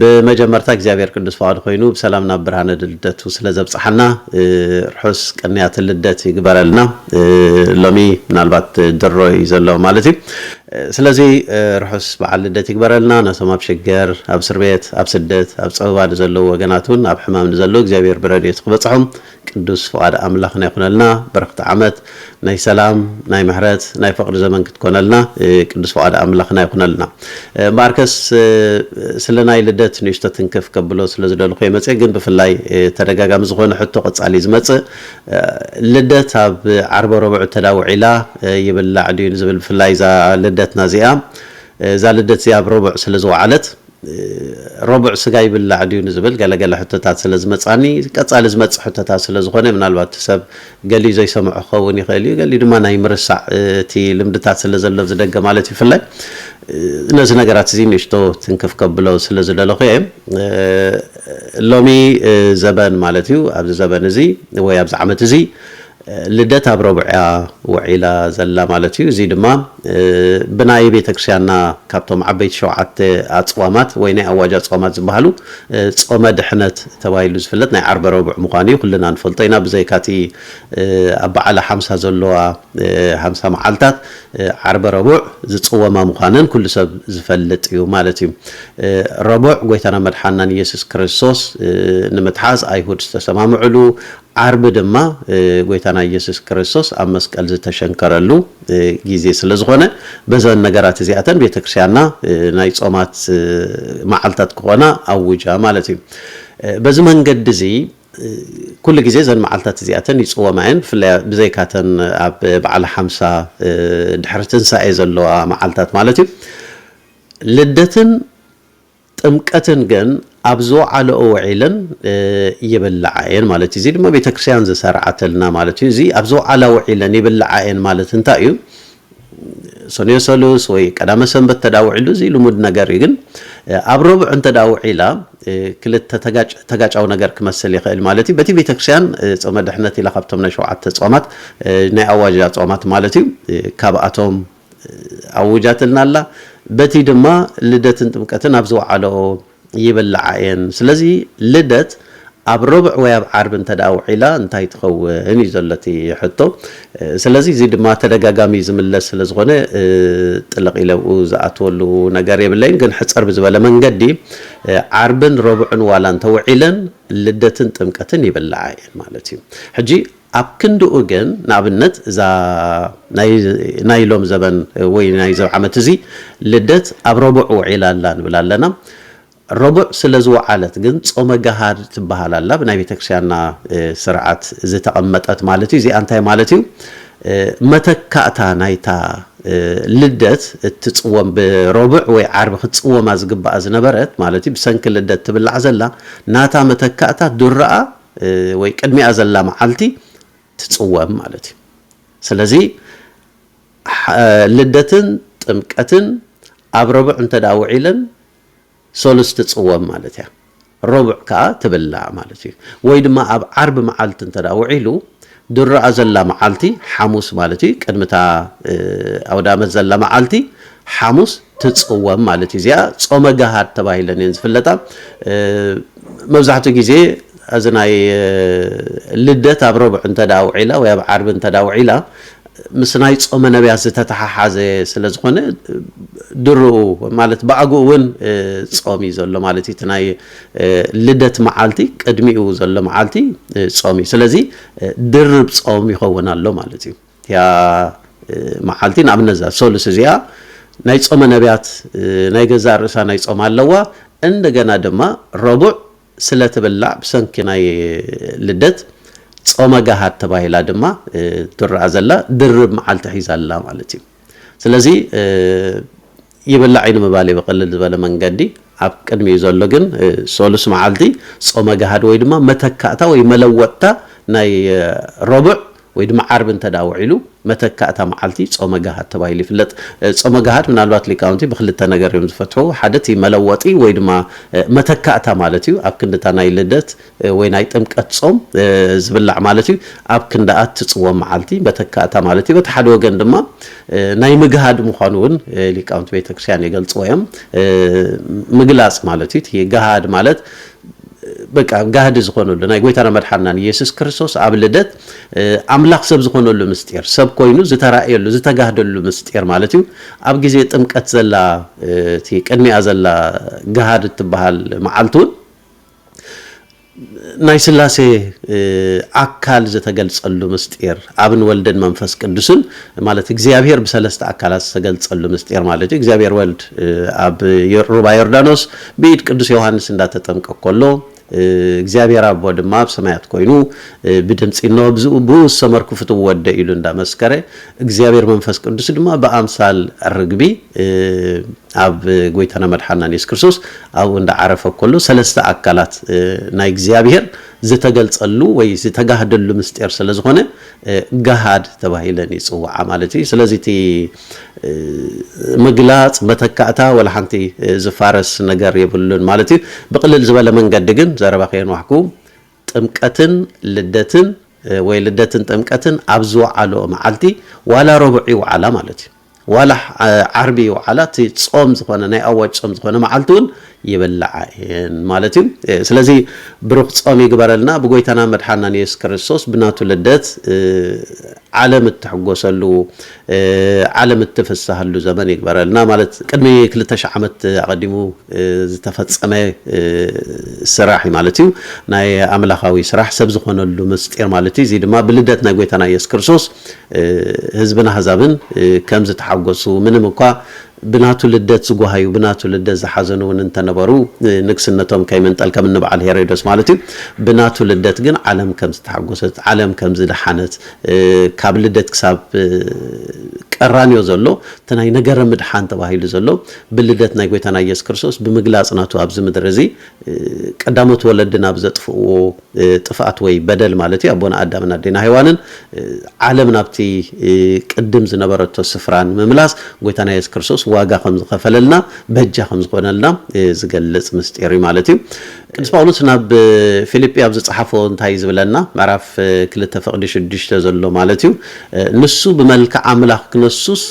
ብመጀመርታ እግዚኣብሔር ቅዱስ ፍቃዱ ኮይኑ ብሰላም ናብ ብርሃነ ልደቱ ስለ ዘብጽሓና ርሑስ ቅንያት ልደት ይግበረልና ሎሚ ምናልባት ድሮ እዩ ዘሎ ማለት እዩ ስለዚ ርሑስ በዓል ልደት ይግበረልና ነቶም ኣብ ሽገር ኣብ እስርቤት ኣብ ስደት ኣብ ጸበባ ንዘለዉ ወገናት እውን ኣብ ሕማም ንዘለዉ እግዚኣብሔር ብረድኤቱ ክበጽሖም ቅዱስ ፍቃድ ኣምላኽና ይኹነልና በረኽቲ ዓመት ናይ ሰላም ናይ ምሕረት ናይ ፍቅሪ ዘመን ክትኮነልና ቅዱስ ፍቃድ ኣምላኽና ይኹነልና እምበኣርከስ ስለ ናይ ልደት ንእሽቶ ትንክፍ ከብሎ ስለ ዝደልኹ እየ መጽየ ግን ብፍላይ ተደጋጋሚ ዝኾነ ሕቶ ቀጻሊ ዝመጽእ ልደት ኣብ ዓርበ ረቡዕ እተዳ ውዒላ ይብላዕ ድዩ ንዝብል ብፍላይ እዛ ልደትና እዚኣ እዛ ልደት እዚኣ ኣብ ረቡዕ ስለ ዝወዓለት ረቡዕ ስጋ ይብላዕ ድዩ ንዝብል ገለ ገለ ሕቶታት ስለ ዝመጻኒ ቀጻሊ ዝመጽእ ሕቶታት ስለ ዝኾነ ምናልባት እቲ ሰብ ገሊኡ ዘይሰምዖ ክኸውን ይኽእል እዩ ገሊኡ ድማ ናይ ምርሳዕ እቲ ልምድታት ስለ ዘሎ ዝደገ ማለት እዩ ብፍላይ ነዚ ነገራት እዚ ንእሽቶ ትንክፍ ከብሎ ስለ ዝደለኹ እየ ሎሚ ዘበን ማለት እዩ ኣብዚ ዘበን እዚ ወይ ኣብዚ ዓመት እዚ ልደት ኣብ ረቡዕ እያ ውዒላ ዘላ ማለት እዩ። እዚ ድማ ብናይ ቤተክርስቲያንና ካብቶም ዓበይቲ ሸውዓተ ኣጽዋማት ወይ ናይ ኣዋጅ ኣጽዋማት ዝበሃሉ ጾመ ድሕነት ተባሂሉ ዝፍለጥ ናይ ዓርበ ረቡዕ ምዃኑ እዩ ኩልና ንፈልጦ ኢና። ብዘይካ እቲ ኣብ በዓለ ሓምሳ ዘለዋ ሓምሳ መዓልታት ዓርበ ረቡዕ ዝጽወማ ምዃነን ኩሉ ሰብ ዝፈልጥ እዩ ማለት እዩ። ረቡዕ ጎይታናን መድሓንናን ኢየሱስ ክርስቶስ ንምትሓዝ ኣይሁድ ዝተሰማምዕሉ ዓርቢ ድማ ጎይታና ኢየሱስ ክርስቶስ ኣብ መስቀል ዝተሸንከረሉ ጊዜ ስለ ዝኾነ በዘን ነገራት እዚኣተን ቤተ ክርስቲያንና ናይ ጾማት መዓልታት ክኾና ኣውጃ ማለት እዩ። በዚ መንገዲ እዚ ኩሉ ጊዜ እዘን መዓልታት እዚኣተን ይጽወማ እየን። ብፍላይ ብዘይካተን ኣብ በዓለ ሓምሳ ድሕሪ ትንሳኤ ዘለዋ መዓልታት ማለት እዩ። ልደትን ጥምቀትን ግን ኣብ ዝወዓለኦ ውዒለን ይብልዓ እየን ማለት እዩ። እዚ ድማ ቤተክርስቲያን ዝሰርዓተልና ማለት እዩ። እዚ ኣብ ዝወዓላ ውዒለን ይብልዓ እየን ማለት እንታይ እዩ? ሰኑዮ ሰሉስ ወይ ቀዳመ ሰንበት ተዳ ውዒሉ እዚ ልሙድ ነገር እዩ። ግን ኣብ ረቡዕ እንተ ውዒላ ክልተ ተጋጫዊ ነገር ክመስል ይኽእል ማለት እዩ። በቲ ቤተክርስቲያን ጾመ ድሕነት ኢላ ካብቶም ናይ ሸውዓተ ጾማት ናይ ኣዋጃ ጾማት ማለት እዩ ካብኣቶም ኣዊጃትልና ኣላ በቲ ድማ ልደትን ጥምቀትን ኣብ ዝወዓለኦ ይብላዓ እየን ስለዚ ልደት ኣብ ሮብዕ ወይ ኣብ ዓርቢ እንተ ውዒላ እንታይ ትኸውን እዩ ዘሎ እቲ ሕቶ ስለዚ እዚ ድማ ተደጋጋሚ ዝምለስ ስለ ዝኾነ ጥልቕ ኢለ ኣብኡ ዝኣትወሉ ነገር የብለይን ግን ሕፀር ብዝበለ መንገዲ ዓርብን ሮብዕን ዋላ እንተውዒለን ልደትን ጥምቀትን ይብላዓ እየን ማለት እዩ ሕጂ ኣብ ክንድኡ ግን ንኣብነት እዛ ናይ ናይ ሎም ዘበን ወይ ናይ እዚ ዓመት እዚ ልደት ኣብ ረቡዕ ውዒላ ኣላ ንብል ኣለና ረቡዕ ስለ ዝወዓለት ግን ጾመ ገሃድ ትበሃል ኣላ ብናይ ቤተክርስቲያንና ስርዓት ዝተቐመጠት ማለት እዩ እዚኣ እንታይ ማለት እዩ መተካእታ ናይታ ልደት እትጽወም ብረቡዕ ወይ ዓርቢ ክትጽወማ ዝግባኣ ዝነበረት ማለት እዩ ብሰንኪ ልደት ትብላዕ ዘላ ናታ መተካእታ ዱራኣ ወይ ቅድሚኣ ዘላ መዓልቲ ትፅወም ማለት እዩ። ስለዚ ልደትን ጥምቀትን ኣብ ረቡዕ እንተ ውዒለን ሰሉስ ትፅወም ማለት እያ። ረቡዕ ከዓ ትብላዕ ማለት እዩ። ወይ ድማ ኣብ ዓርቢ መዓልቲ እንተ ውዒሉ ድርኣ ዘላ መዓልቲ ሓሙስ ማለት እዩ ቅድሚ እታ ኣውዳመት ዘላ መዓልቲ ሓሙስ ትጽወም ማለት እዩ እዚኣ ጾመ ጋሃድ ተባሂለን እየን ዝፍለጣ መብዛሕትኡ ግዜ እዚ ናይ ልደት ኣብ ረቡዕ እንተ ደኣ ውዒላ ወይ ኣብ ዓርቢ እንተ ደኣ ውዒላ ምስ ናይ ጾመ ነብያት ዝተተሓሓዘ ስለ ዝኾነ ድርኡ ማለት ብኣግኡ እውን ጾም እዩ ዘሎ ማለት እዩ እቲ ናይ ልደት መዓልቲ ቅድሚኡ ዘሎ መዓልቲ ጾም እዩ ስለዚ ድርብ ጾም ይኸውን ኣሎ ማለት እዩ እቲያ መዓልቲ ንኣብነት እዛ ሰሉስ እዚኣ ናይ ጾመ ነቢያት ናይ ገዛእ ርእሳ ናይ ጾም ኣለዋ እንደገና ድማ ረቡዕ ስለ ትብላዕ ብሰንኪ ናይ ልደት ጾመ ጋሃድ ተባሂላ ድማ ትረኣ ዘላ ድርብ መዓልቲ ሒዛ ኣላ ማለት እዩ ስለዚ ይብላዕ እዩ ንምባል እዩ ብቕልል ዝበለ መንገዲ። ኣብ ቅድሚኡ ዘሎ ግን ሰሉስ መዓልቲ ጾመ ገሃድ ወይ ድማ መተካእታ ወይ መለወጥታ ናይ ረቡዕ ወይ ድማ ዓርቢ እንተ ውዒሉ መተካእታ መዓልቲ ጾመ ገሃድ ተባሂሉ ይፍለጥ። ጾመ ገሃድ ምናልባት ሊቃውንቲ ብክልተ ነገር እዮም ዝፈትሑ፣ ሓደ እቲ መለወጢ ወይ ድማ መተካእታ ማለት እዩ፣ ኣብ ክንዲ እታ ናይ ልደት ወይ ናይ ጥምቀት ጾም ዝብላዕ ማለት እዩ፣ ኣብ ክንድኣ እትጽወም መዓልቲ መተካእታ ማለት እዩ። በቲ ሓደ ወገን ድማ ናይ ምግሃድ ምዃኑ እውን ሊቃውንቲ ቤተ ክርስቲያን ይገልጽዎ እዮም። ምግላጽ ማለት እዩ፣ እቲ ገሃድ ማለት በቃ ጋህዲ ዝኾነሉ ናይ ጎይታና መድሓንናን ኢየሱስ ክርስቶስ ኣብ ልደት ኣምላኽ ሰብ ዝኾነሉ ምስጢር፣ ሰብ ኮይኑ ዝተራእየሉ ዝተጋህደሉ ምስጢር ማለት እዩ። ኣብ ግዜ ጥምቀት ዘላ እቲ ቅድሚኣ ዘላ ገሃድ እትበሃል መዓልቲ እውን፣ ናይ ሥላሴ ኣካል ዝተገልጸሉ ምሥጢር፣ ኣብን ወልድን መንፈስ ቅዱስን ማለት እግዚኣብሔር ብሠለስተ ኣካላት ዝተገልጸሉ ምሥጢር ማለት እዩ። እግዚኣብሔር ወልድ ኣብ ሩባ ዮርዳኖስ ብኢድ ቅዱስ ዮሓንስ እንዳተጠምቀ ከሎ እግዚኣብሔር ኣቦ ድማ ኣብ ሰማያት ኮይኑ ብድምጺ እነሆ ብእኡ ዝሰመርኩ ፍትው ወደይ ኢሉ እንዳመስከረ እግዚኣብሔር መንፈስ ቅዱስ ድማ ብኣምሳል ርግቢ ኣብ ጎይታና መድሓናን የሱስ ክርስቶስ ኣብኡ እንዳ ዓረፈ ከሎ ሰለስተ ኣካላት ናይ እግዚኣብሄር ዝተገልጸሉ ወይ ዝተጋህደሉ ምስጢር ስለ ዝኾነ ጋሃድ ተባሂለን ይጽዋዓ ማለት እዩ ስለዚ እቲ ምግላጽ መተካእታ ወላ ሓንቲ ዝፋረስ ነገር የብሉን ማለት እዩ ብቕልል ዝበለ መንገዲ ግን ዘረባ ከየንዋሕኩ ጥምቀትን ልደትን ወይ ልደትን ጥምቀትን ኣብ ዝወዓልኦ መዓልቲ ዋላ ረቡዕ ይውዓላ ማለት እዩ። ዋላ ዓርቢ ይውዓላ እቲ ጾም ዝኾነ ናይ ኣዋጅ ጾም ዝኾነ መዓልቲ እውን ይብላዓ እየን ማለት እዩ። ስለዚ ብሩኽ ጾም ይግበረልና ብጎይታና መድሓናን የሱስ ክርስቶስ ብናቱ ልደት ዓለም እትሕጎሰሉ ዓለም እትፍሳሃሉ ዘመን ይግበረልና ማለት ቅድሚ ክልተ ሽሕ ዓመት ኣቀዲሙ ዝተፈጸመ ስራሕ እዩ ማለት እዩ ናይ ኣምላካዊ ስራሕ ሰብ ዝኮነሉ ምስጢር ማለት እዩ እዚ ድማ ብልደት ናይ ጎይታና ኢየሱስ ክርስቶስ ህዝብን ኣህዛብን ከም ዝተሓጎሱ ምንም እኳ ብናቱ ልደት ዝጐሃዩ፣ ብናቱ ልደት ዝሓዘኑ እውን እንተ ነበሩ፣ ንንግስነቶም ከይምንጠል፣ ከም እኒ በዓል ሄሮዶስ ማለት እዩ፣ ብናቱ ልደት ግን ዓለም ከም ዝተሓጐሰት፣ ዓለም ከም ዝደሓነት፣ ካብ ልደት ክሳብ ቀራንዮ ዘሎ እቲ ናይ ነገረ ምድሓን ተባሂሉ ዘሎ ብልደት ናይ ጐይታና ኢየሱስ ክርስቶስ ብምግላጽ ናቱ ኣብዚ ምድሪ እዚ ቀዳሞት ወለድና ብዘጥፍእዎ ጥፍኣት ወይ በደል ማለት እዩ። ኣቦና ኣዳምን ኣዴና ሄዋንን ዓለም ናብቲ ቅድም ዝነበረቶ ስፍራ ንምምላስ ጎይታና የሱስ ክርስቶስ ዋጋ ከም ዝኸፈለልና በጃ ከም ዝኾነልና ዝገልጽ ምስጢር እዩ ማለት እዩ። ቅዱስ ጳውሎስ ናብ ፊልጲ ኣብ ዝጸሓፎ እንታይ ዝብለና ምዕራፍ ክልተ ፍቕዲ ሽዱሽተ ዘሎ ማለት እዩ ንሱ ብመልክዕ ኣምላኽ ክነሱስ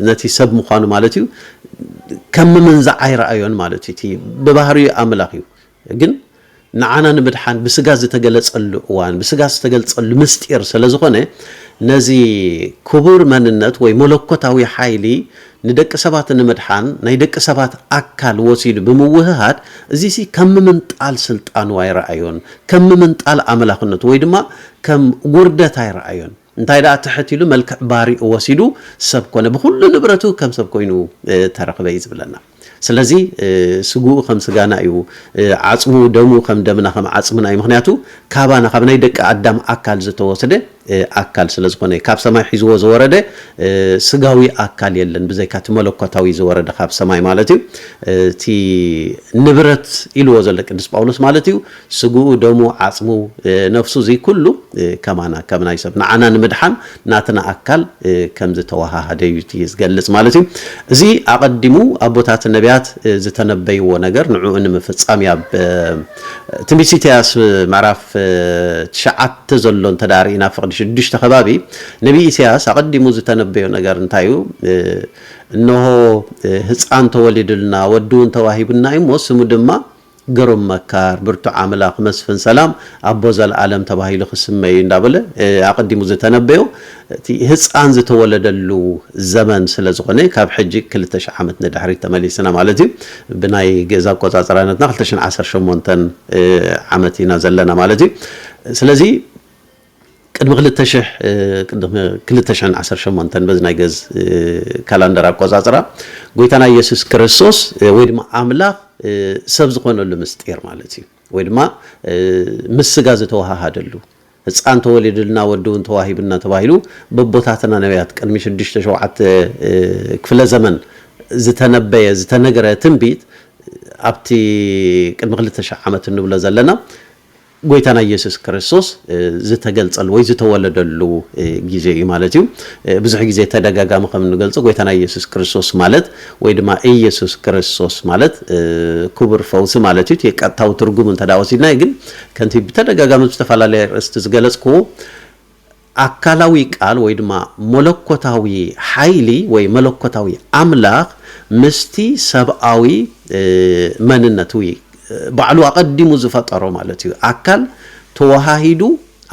ነቲ ሰብ ምዃኑ ማለት እዩ ከም ምምንዛዕ ኣይረኣዮን ማለት እዩ። እቲ ብባህሪኡ ኣምላኽ እዩ። ግን ንዓና ንምድሓን ብስጋ ዝተገለጸሉ እዋን ብስጋ ዝተገልጸሉ ምስጢር ሰለዝኾነ ነዚ ክቡር መንነት ወይ መለኮታዊ ሓይሊ ንደቂ ሰባት ንምድሓን ናይ ደቂ ሰባት ኣካል ወሲዱ ብምውህሃድ እዚሲ ከም ምምንጣል ስልጣኑ ኣይረኣዮን ከም ምምንጣል ኣምላኽነቱ ወይ ድማ ከም ውርደት ኣይረኣዮን እንታይ ደኣ ትሕት ኢሉ መልክዕ ባርኡ ወሲዱ ሰብ ኮነ፣ ብኹሉ ንብረቱ ከም ሰብ ኮይኑ ተረኽበ እዩ ዝብለና። ስለዚ ስግኡ ከም ስጋና እዩ፣ ዓጽሙ ደሙ ከም ደምና ከም ዓጽምና እዩ፣ ምኽንያቱ ካባና ካብ ናይ ደቂ ኣዳም ኣካል ዝተወስደ ኣካል ስለ ዝኾነ፣ ካብ ሰማይ ሒዝዎ ዝወረደ ስጋዊ ኣካል የለን ብዘይካ እቲ መለኮታዊ ዝወረደ ካብ ሰማይ ማለት እዩ፣ እቲ ንብረት ኢልዎ ዘሎ ቅዱስ ጳውሎስ ማለት እዩ፣ ስግኡ ደሙ ዓጽሙ ነፍሱ እዚ ኩሉ ከማና ከም ናይ ሰብ ንዓና ንምድሓን ናትና ኣካል ከም ዝተወሃሃደ እዩ እቲ ዝገልጽ ማለት እዩ። እዚ ኣቐዲሙ ኣቦታት ነብያት ዝተነበይዎ ነገር ንዕኡ ንምፍጻም እዩ። ኣብ ትንቢት ኢሳይያስ ምዕራፍ ትሽዓተ ዘሎ እንተ ርኢና ፍቕዲ ሽዱሽተ ከባቢ ነብዪ ኢሳይያስ ኣቐዲሙ ዝተነበዮ ነገር እንታይ እዩ? እንሆ ህጻን ተወሊዱልና ወዲውን ተዋሂቡና እዩ እሞ ስሙ ድማ ግሩም መካር ብርቱዕ ኣምላኽ መስፍን ሰላም ኣቦ ዘልኣለም ተባሂሉ ክስመ እዩ እንዳበለ ኣቐዲሙ ዝተነበዮ እቲ ህጻን ዝተወለደሉ ዘመን ስለ ዝኾነ ካብ ሕጂ ክልተ ሽሕ ዓመት ንድሕሪት ተመሊስና ማለት እዩ ብናይ ግእዝ ኣቆጻጽራነትና ክልተ ሽሕን ዓሰርተ ሸሞንተን ዓመት ኢና ዘለና ማለት እዩ ስለዚ ቅድሚ ክልተ ሽሕ፣ ቅድሚ ክልተ ሽሕን ዓሰርተ ሸሞንተን በዚ ናይ ገዝ ካላንደር ኣቆጻጽራ፣ ጎይታና ኢየሱስ ክርስቶስ ወይ ድማ ኣምላኽ ሰብ ዝኾነሉ ምስጢር ማለት እዩ። ወይ ድማ ምስ ስጋ ዝተወሃሃደሉ፣ ህጻን ተወሊዱልና ወዲ ውን ተዋሂቡና ተባሂሉ በቦታትና ነብያት ቅድሚ ሽዱሽተ ሸውዓተ ክፍለ ዘመን ዝተነበየ ዝተነገረ ትንቢት ኣብቲ ቅድሚ ክልተ ሽሕ ዓመት እንብሎ ዘለና ጎይታና ኢየሱስ ክርስቶስ ዝተገልጸሉ ወይ ዝተወለደሉ ግዜ እዩ ማለት እዩ። ብዙሕ ግዜ ተደጋጋሚ ከም እንገልጾ ጎይታና ኢየሱስ ክርስቶስ ማለት ወይ ድማ ኢየሱስ ክርስቶስ ማለት ክቡር ፈውሲ ማለት እዩ። እቲ ቀጥታዊ ትርጉም እንተ ወሲድናዮ ግን ከምቲ ብተደጋጋሚ ብዝተፈላለየ ርእስቲ ዝገለጽኩዎ ኣካላዊ ቃል ወይ ድማ መለኮታዊ ሓይሊ ወይ መለኮታዊ ኣምላኽ ምስቲ ሰብኣዊ መንነት ወይ ባዕሉ ኣቐዲሙ ዝፈጠሮ ማለት እዩ ኣካል ተወሃሂዱ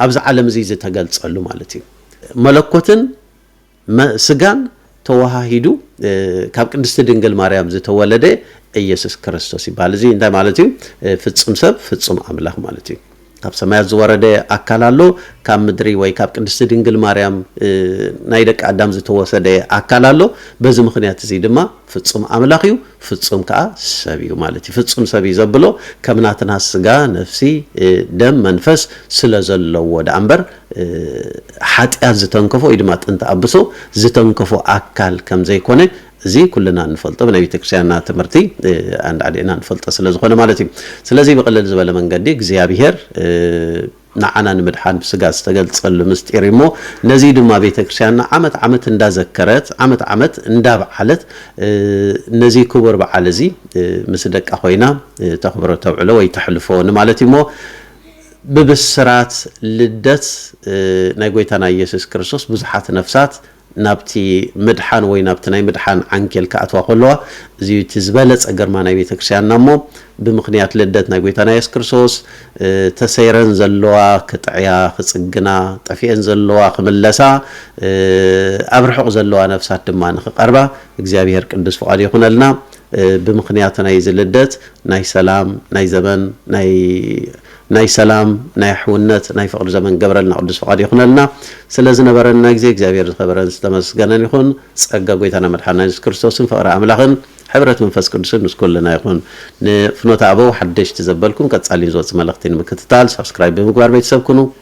ኣብዚ ዓለም እዚ ዝተገልጸሉ ማለት እዩ። መለኮትን። መ ስጋን ተወሃሂዱ ካብ ቅድስቲ ድንግል ማርያም ዝተወለደ ኢየሱስ ክርስቶስ ይበሃል። እዚ እንታይ ማለት እዩ? ፍጹም ሰብ ፍጹም ኣምላኽ ማለት እዩ። ካብ ሰማያት ዝወረደ ኣካል ኣሎ፣ ካብ ምድሪ ወይ ካብ ቅድስቲ ድንግል ማርያም ናይ ደቂ ኣዳም ዝተወሰደ ኣካል ኣሎ። በዚ ምኽንያት እዚ ድማ ፍጹም ኣምላኽ እዩ፣ ፍጹም ከኣ ሰብ እዩ ማለት እዩ። ፍጹም ሰብ እዩ ዘብሎ ከም ናትና ስጋ፣ ነፍሲ፣ ደም፣ መንፈስ ስለ ዘለዎ ደኣ እምበር ሓጢኣት ዝተንከፎ ወይ ድማ ጥንቲ ኣብሶ ዝተንከፎ ኣካል ከም ዘይኮነ እዚ ኩልና እንፈልጦ ብናይ ቤተክርስቲያንና ትምህርቲ ኣንዳዕዲዕና እንፈልጦ ስለ ዝኾነ ማለት እዩ። ስለዚ ብቕልል ዝበለ መንገዲ እግዚኣብሄር ንዓና ንምድሓን ብስጋ ዝተገልጸሉ ምስጢር እዩ እሞ ነዚ ድማ ቤተክርስቲያንና ዓመት ዓመት እንዳዘከረት ዓመት ዓመት እንዳብዓለት ነዚ ክቡር በዓል እዚ ምስ ደቃ ኮይና ተኽብሮ ተብዕሎ ወይ ተሕልፎ ንማለት እዩ እሞ ብብስራት ልደት ናይ ጐይታና ኢየሱስ ክርስቶስ ብዙሓት ነፍሳት ናብቲ ምድሓን ወይ ናብቲ ናይ ምድሓን ዓንኬል ክኣትዋ ከለዋ እዚ እዩ እቲ ዝበለጸ ግርማ ናይ ቤተ ክርስቲያንና እሞ ብምኽንያት ልደት ናይ ጐይታና ኢየሱስ ክርስቶስ ተሰይረን ዘለዋ ክጥዕያ ክጽግና ጠፊኤን ዘለዋ ክምለሳ ኣብ ርሑቕ ዘለዋ ነፍሳት ድማ ንክቐርባ እግዚኣብሔር ቅዱስ ፍቓዱ ይኹነልና። ብምኽንያት ናይዚ ልደት ናይ ሰላም ናይ ዘበን ናይ ናይ ሰላም ናይ ኣሕውነት ናይ ፍቕሪ ዘመን ክገብረልና ቅዱስ ፍቓዱ ይኹነልና። ስለ ዝነበረና ግዜ እግዚኣብሔር ዝኸበረን ዝተመስገነን ይኹን። ጸጋ ጎይታና መድሓኒና የሱስ ክርስቶስን ፍቕሪ ኣምላኽን ሕብረት መንፈስ ቅዱስን ምስ ኩልና ይኹን። ንፍኖተ ኣበው ሓደሽቲ ዘበልኩም ቀጻሊን ዝወጽእ መልእኽቲ ንምክትታል ሳብስክራይብ ብምግባር ቤተሰብ ኩኑ።